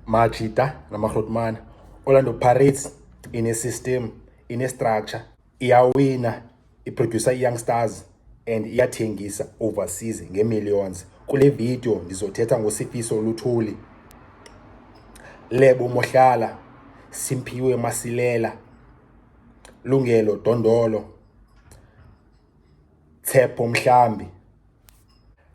majita namahlotmana orlando pirates inesystem inestructure iyawina iproducer i-young stars and iyathengisa overseas ngeemillions kule video ndizothetha ngosifiso oluthuli lebo mohlala simphiwe masilela lungelo dondolo Tshepo Mhlambi.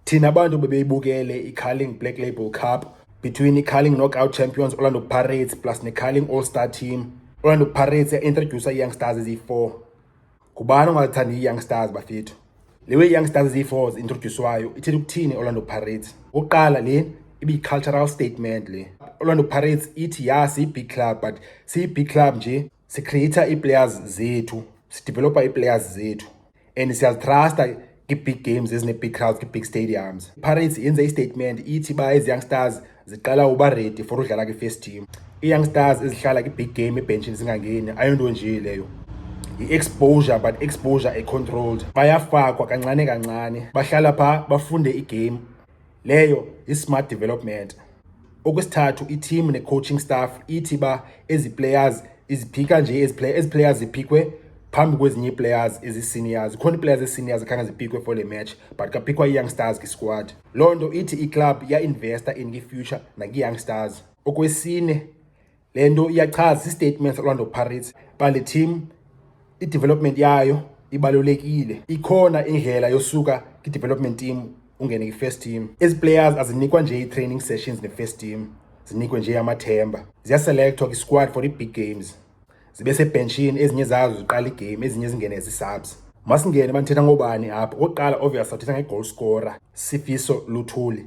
Thina bantu bebeyibukele iCarling Black Label Cup between iCarling Knockout Champions Orlando Pirates plus neCarling All-Star Team. Orlando Pirates yaintrodusa i-youngstars eziyi-four. Ngubani ongalithandi i-youngstars bafethu? Le we-youngstars eziyi-four zi-introdyuswayo ithetha ukuthini Orlando Pirates? Okokuqala le ibiyi-cultural statement le. Orlando Pirates ithi ya siyi-big club but siyi-big club nje Sikhrieyitha ii-players zethu, sidivelopha ii-players zethu and siyazithrasta kwi-big games ezine-big crowds kwi-big stadiums. IPirates yenze istatement ithi uba ezi young stars ziqala uba ready for udlala kwi-first team. Ii-young stars ezihlala kwi-big game ebhentshini zingangeni ayonto nje leyo. yi-exposure but exposure econtrolled bayafakwa kancane kancane bahlala phaa bafunde igame Leyo yi-smart development. Okwesithathu i-team ne-coaching staff ithi uba ezi players iziphika nje ezi play ezi players ziphikwe phambi kwezinye ii-players ezi-seniors. Zikhona ii-players ezi-seniors ekhange ziphikwe for le match but kaphikwa ii-youngstars kwi-squad. Loo nto ithi iklabhu yainvesta in kwi-future nakwi-youngstars. Okwesine Le nto iyachaza istatement Orlando Pirates uba le team i-development yayo ibalulekile. Ikhona indlela yosuka kwi-development team ungene kwi-first team. Ezi players azinikwa nje ii-training sessions ne-first team, zinikwe nje amathemba. Ziyaselekthwa kwi-squad for ii-big games. Zibe sebhentshini, ezinye zazo ziqala igame, ezinye zingene zii-subs. Masingene uba ndithetha ngobani apha. Okokuqala obvious sathetha nge-goal scorer, Sifiso Luthuli.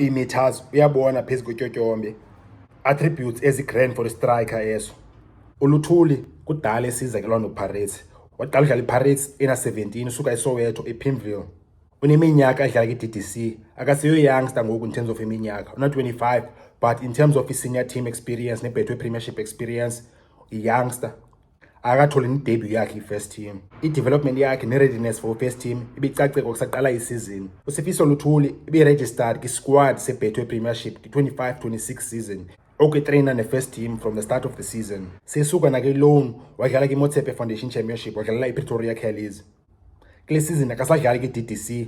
iimeters uyabona phezu kwetyotyombe attributes ezigrand for istriker eso uluthuli kudala esiza ke loo nto pirates waqala udlala ipirates ena-17 usuka esoweto epimville uneminyaka edlala kwi-ddc akaseyo youngster ngoku in terms of iminyaka una-25 but in terms of i-senior team experience nebhethwe premiership experience iyoungster akatholi nedebut yakhe i-first team i-development yakhe ne-readiness for first team ibicaceka kusaqala isizini usifiso luthuli ibe-registered kwisquad sebethwe premiership kwi-25 26 season okuyitreyina ne-first team from the start of the season sesuka nakwiloan wadlala kwimotsepe foundation championship wadlalela ipretoria callies kule sizini akasadlali kwi-ddc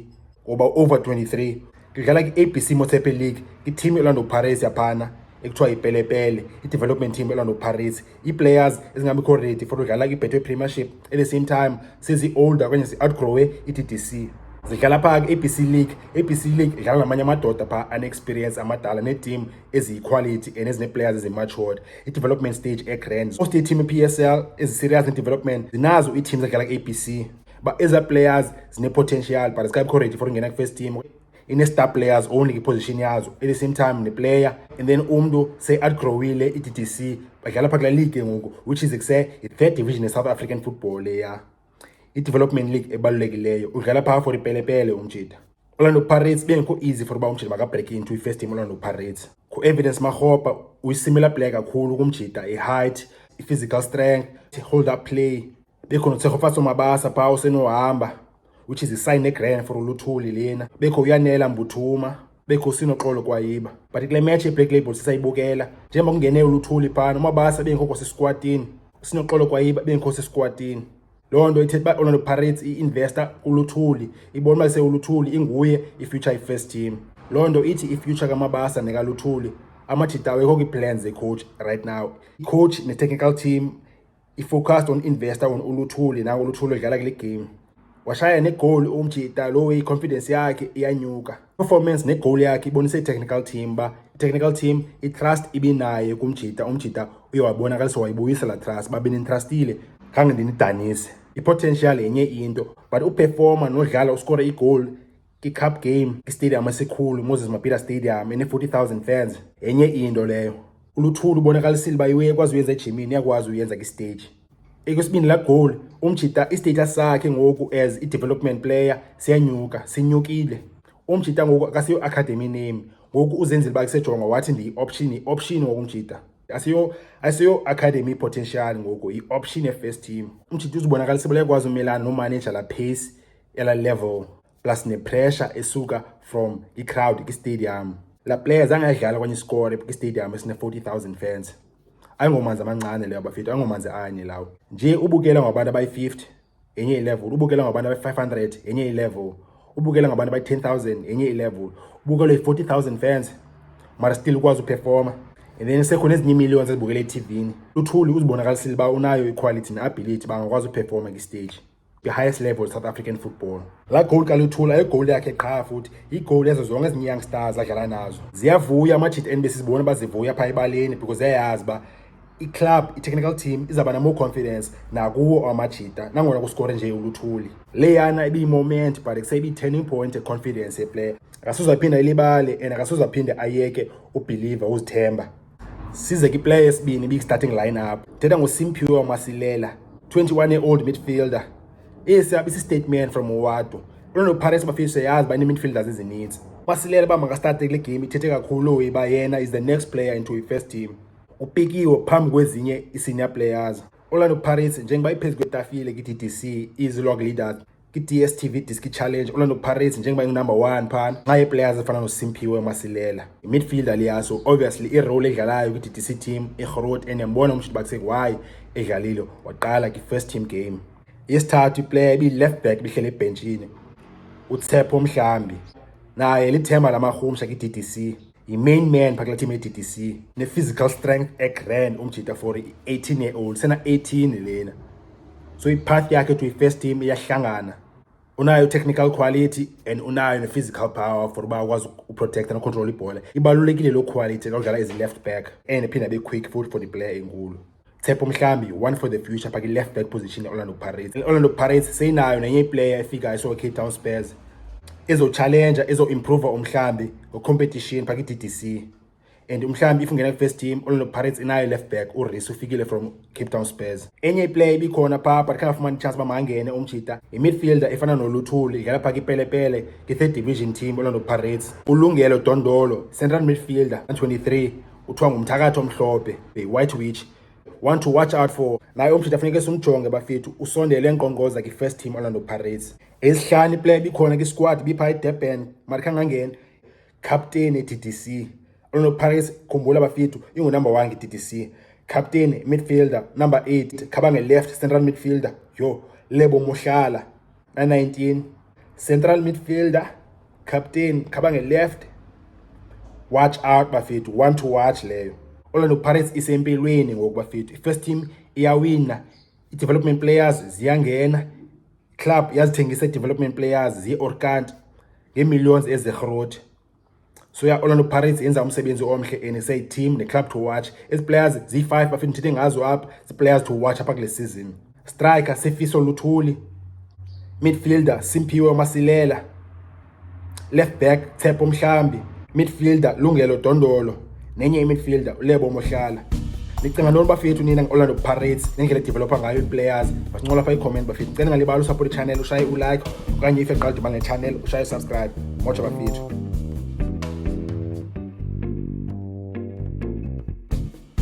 ngoba over 23 kudlala kwi-abc motsepe league iteam elando paris yaphana ekuthiwa yipelepele i-development team elando paris ii-players ezingabikho ready for udlala kwi-betway premiership at the same time sezi-older okanye zi-outgrowe i-ddc zidlala phaa kwi-abc league abc league idlala namanye amadoda phaa anexperience amadala neetim eziyiquality and ezinee-players ezimatured i-development stage e-grand so state team i-p s l eziserious ne-development zinazo ii-team zadlala ku-abc uba ezaa players zine-potential but zikabikho ready for ungena kwi-first team ine-star players only kwiposition yazo at the same time neplayer and then umntu seyiadgrowile i-d d c badlala phaa kula league ngoku which is kuse yi-third division ye-south african football leya i-development league ebalulekileyo udlala phaa for ipelepele umjita orlando pirates bengekho easy for uba umjita makabreak into i-first team orlando pirates ku-evidence marhopa uyi-similar player kakhulu kumjita i-height i-physical strength i-hold up play bekho notshegofatso mabasa phaa usenohamba which is i-sign egrand for uluthuli lena bekho uyanela mbuthuma bekho sinoxolo kwayiba but kule match yeblack label sisayibukela njengoba kungene uluthuli phana umabasa bengekho sisikwatini sinoxolo kwayiba bengekho sisikwatini loo nto ithetha uba orlando pirates i-investa kuluthuli ibona uba sewuluthuli inguye ifuture i-first team loo nto ithi ifuture kamabasa nekaluthuli amajita awekho kwi-plans zecoach right now icoach ne-technical team i-focused on investor on uluthuli nango uluthuli odlala kule game washaya negoli umjita lo i-confidence yakhe iyanyuka performance negoli yakhe ibonisa i-technical team uba i-technical team i-trust ibinaye kumjita umjita uye wabonakalisa wayibuyisa laa trust uba benintrastile khange ndinidanise i-potential yenye into but uperforma nodlala uskore igoli iCup Game iStadium esikhulu Moses Mabhida Stadium ene-40,000 fans yenye into leyo. ULuthuli ubonakalisile uba iwe ekwazi uyenza ejimini yakwazi uyenza kwisteji. Ekwesibini la goal umjita istage sakhe ngoku as i development player siyanyuka sinyukile umjita ngoku akasiyo academy name ngoku uzenzile uba kusejonga wathi ndiyi-option yi-option wokumjita asiyo asiyo academy potential ngoku yi-option ye-first team umjita uzibonakalisa uba uyakwazi umelana nomaneja la pace ela level plus nepressure esuka from i-crowd kistadium la player zange ayidlala kwanye isikore kistadium esine-forty thousand fans ayingomanzi amancane leyo bafethu ayingomanzi anye lawo nje ubukela ngabantu abayi-fifty enye ilevel ubukela ngabantu abayi-five hundred enye ilevel ubukela ngabantu abayi-ten thousand enye ilevel ubukela yi-forty thousand fans mara still ukwazi uperforma and then sekhona ezinye iimillions ezibukela ethivini luthuli uzibonakalisile uba unayo iquality ne-ability bangakwazi uperforma kwistage the highest level south african football laa gowuli kaluthula ayigowuli yakhe qha futhi yigowuli yezo zonke ezinye young stars adlala nazo ziyavuya amajita enbe sizibona uba zivuya phaa ebaleni because ziyayazi uba iclub itechnical team izawuba namore confidence nakuwo amajita nangona kusikore nje uluthuli leyana ibiyimoment but kuseyibiyi-turning point econfidence yeplayer akasuzaphinda ilibale and akasuzaphinda ayeke ubhiliva uzithemba Size kwiplayer yesibini big starting lineup. Thetha ngoSimphiwe Wamasilela, 21 year old midfielder. Esi abe statement from Owado. Lona Paris bafise yazi bani midfielders ezininzi. Masilela ba makastart kule game ithethe kakhulu uyiba yena is the next player into the first team. Upikiwe phambi kwezinye i-senior players. Orlando Pirates njengoba iphezulu kwetafile kwi-DDC izilog leaders kwi-dstv diski challenge orlando pirates njengoba ingunumber one phana nxa yeeplayers efana nosimphiwe masilela imidfielder liyaso obviously irole edlalayo kwi-ddc team irhorot and yambona umshidi bakusek why edlalile waqala kwi-first team game yesithathu iplayer ibi-left back ibihlele ebhentshini utsepho mhlambi naye lithemba lamarhumsha kwi-ddc yi-main man phakula team ye-ddc ne-physical strength egran umjita for i-18 year old sena-18 lena so ipath yakhe to i-first team iyahlangana unayo technical quality and unayo ne-physical power for uba akwazi uprotecta nocontrol ibhola ibalulekile loo quality xa udlala ezi-left back and iphinde abe quick futhi for the player enkulu Tshepo Mhlambi one for the future paki left back position Orlando Pirates Orlando Pirates seyinayo nenye iplayer efika iso Cape Town Spurs ezo challenger ezo improve umhlambi ngo competition paki DDC and umhlambi if ungena first team Orlando Pirates inayo left back uRisu ufikile from Cape Town Spurs enye iplayer ibikhona pha but khanga fumana chance bamangene umjita i midfielder efana noLuthuli idlala pha kipelepele ki third division team Orlando Pirates ulungelo Dondolo central midfielder 23 kuthiwa ngumthakathi omhlophe the white witch want to watch out for naye umthetho afuneke simjonge bafethu usondele enkqonkqoza kwi-first team orlando pirates ezihlanu iplaya bikhona kwisquad bipha edurban mari khangangena captain e-ddc orlando pirates khumbula bafethu ingunumber one nge-ddc captain midfielder number eight khabange left central midfielder yho lebo mohlala Na 19 central midfielder captain khaba nge-left watch out bafethu one to watch leyo Orlando Pirates isempilweni ngoku bafethu first team iyawina i-development players ziyangena club yazithengisa i-development players ziye-orkant ngee-millions ezirhrothi so ya Orlando Pirates yenza umsebenzi omhle and say team ne club to watch ezi players zi 5 bafuna ndithethe ngazo apha zi players to watch apha kule season striker Sifiso Luthuli midfielder Simphiwe Masilela left back Tshepo Mhlambi midfielder Lungelo Dondolo nenye imidfielder ulebo mohlala ndicinga ntoni bafethu nina nge-orlando pirates nendlela edevelopha ngayo ii-players basincola pha iicomment bafethu ndicela ngalibala usupport ichannel ushaye ulike okanye if eqala diba ngechannel ushaye usubscribe motsha bafethu